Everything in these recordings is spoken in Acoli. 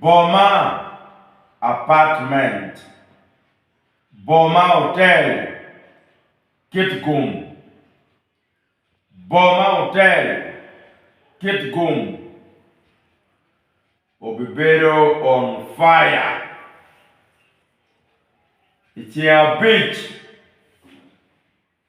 Boma, apartment. Boma, otel. Kit gum. Boma, otel. Kit gum. Obibedo on fire i ceng abic.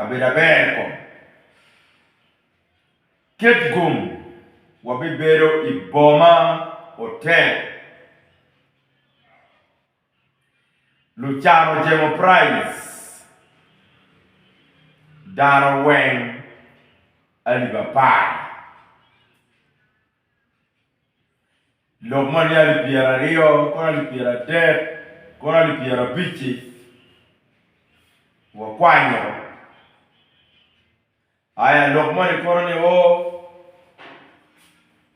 abedo aber kong. Ket gum, wabibedo i boma otel. Lucan ojemo praij, dano weng alip apar. Lok ma ni alip pyeraryo, kono alip pyeradek, kono alip pyerabic-ci wakwanyo. Aya lok moni kono ni o,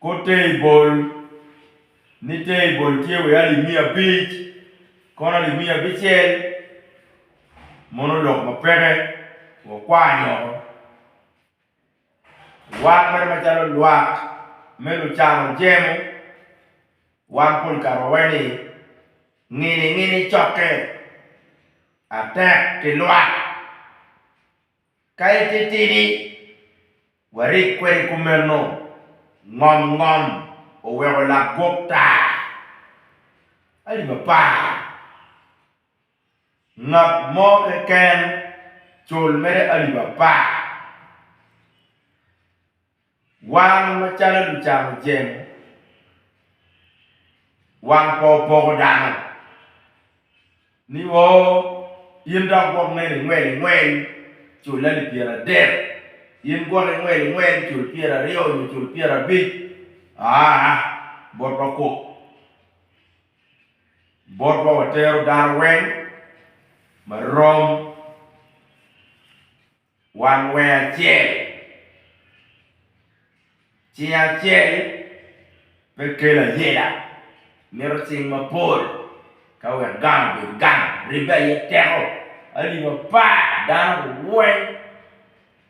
kor teibol ni teibol tye wa i alip miya abic, kono alip miya abicel mono lok ma peke wakwanyo. Wan mere macalo lwak me lucano jemo, wan pol kare wawaco ni ngini ngini cokke atek ki lwak. Ka ititidi warik kwede kumeno, ngom ngom oweko lagwok taa. Alip apar Ngat mo keken cul mere alip apar. Wan macalo lucano ceng, wan pe wapoko dano ni o in dok gwok mene ingwel ingwel cul alip pyera adek, in gwok ingwel ingwel cul pyera aryo nyo cul pyera abic aa botwa kok. Botwa watero dano weng ma rom wan weng acel. Cing acel pe kelo ayela, mito cing mapol ka wek gang obed gang, ribbe aye teko. Alip apar dano weng.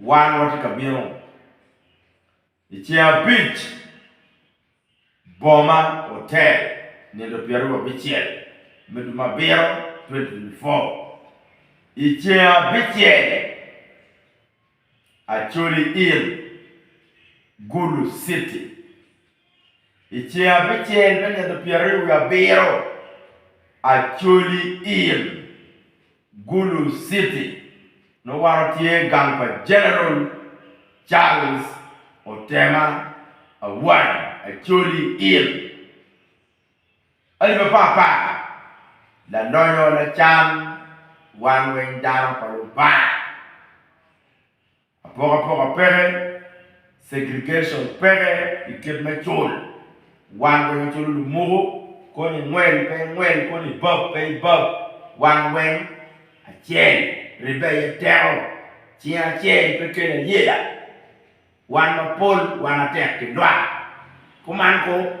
Wan watye ka bino i ceng abic, Boma Hotel, nino pyeraryo abicel me dwe me abiro 2024. I ceng abicel, Acholi Inn, Gulu City. I ceng abicel me nino pyeraryo wiye abiro, Acholi Inn. Gulu City nongo waro tye gang pa General Charles Otema Awany Acholi ill. Alip apar apar, Lalonyo lacan wan weng dano pa Lubanga. Apokapoka peke, segregation peke i kit me cul, wan weng aculu lumuku, koni ingwel pe ingwel, koni ibab pe ibab, wan weng acel, ribbe aye teko, cing acel pe kelo ayela, wan mapol wan atek ki lwak, kuman koo.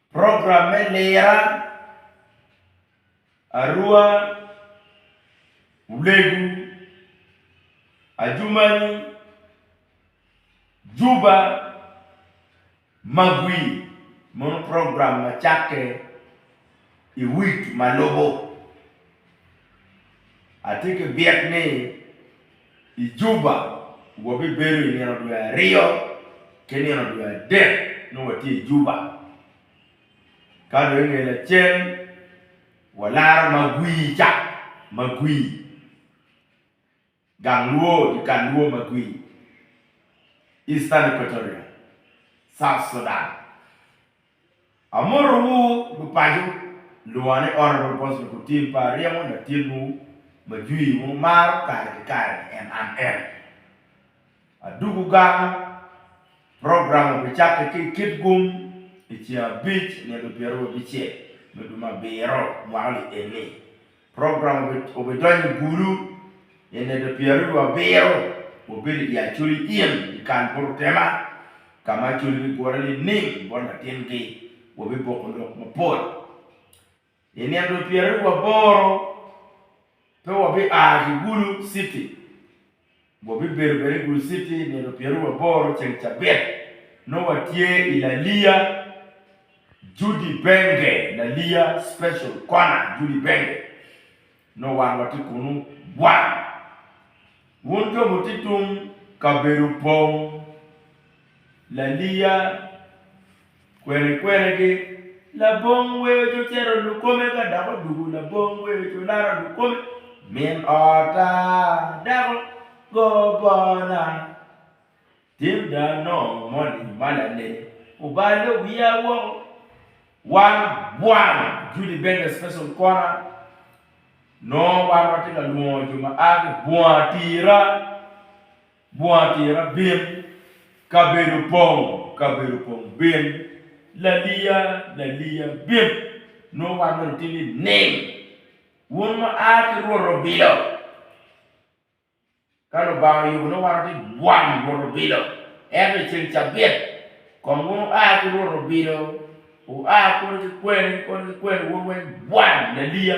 Program me lira, Arua, Ulegu, Adjumani, Juba, Magwi mono program ma cakke i week ma lubo. Atye ki byek ni. I Juba, wabibedo i nino dwe aryo ki nino dwe adek nongo watye i Juba. Ka dong i nge lacen walaro Magwi ca, Magwi, gang Luo, dyekal Luo Magwi, Eastern Equatoria, South Sudan. Amotowu gu paco lwonga ni ot pa Apostle Kutil pa aryemo latinwu ma jwii wu maro kare ki kare ni en an en. Adugu gang program obi cakke ki ikit gum iceng abic nino pyerababicel me duma abiro mwaka li eni. Program obidonyo i bulu i nede pyeraryo abiro ma obedo i Acholi Inn i Kan Poto Tema, ka ma Acholi gigure nining bot latingi. Wabiboko lok mapol. I nino pyeraryo aboro pe wabia ki Gulu city. Wabibedo bene i Gulu Citi nino pyeraryo wiye aboro ceng cabit. Nongo watye i Laliya Judy Benge, Laliya Special Corner Judy Benge. Nongo wan watye kunu wang. Wun jo mutye tung kabedo opong Laliya. Kweni kwenigi, labong weco cito lukome ka dok odugu labong weco laro lukome, Min ota, dako, go bona. Tim dano moni ma lanene obalo wiya woko, Wan bwang Judy Benga Special Kona nongo wan watye ka lwongo jo ma a ki bunga tira Bunga tira bin, kabedo pong, kabedo pong bin, laliya, laliya bin, nongo wan mere otye ni nim. Wun ma a ki Rwot Obilo, ka Lubanga oyubo nongo wan watye bwam Rwot Obilo. Ento i ceng cabit, kong wun wua ki Rwot Obilo, wua koni ki kweni, koni ki kweni, wun weng bwam, laliya.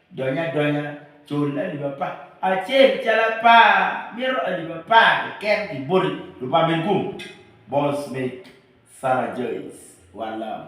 Dony adonya, cul alip apar acel calo apar, mito alip apar keken pi boti, Lupamirgum, Bosmith, Summerjoys, Walam.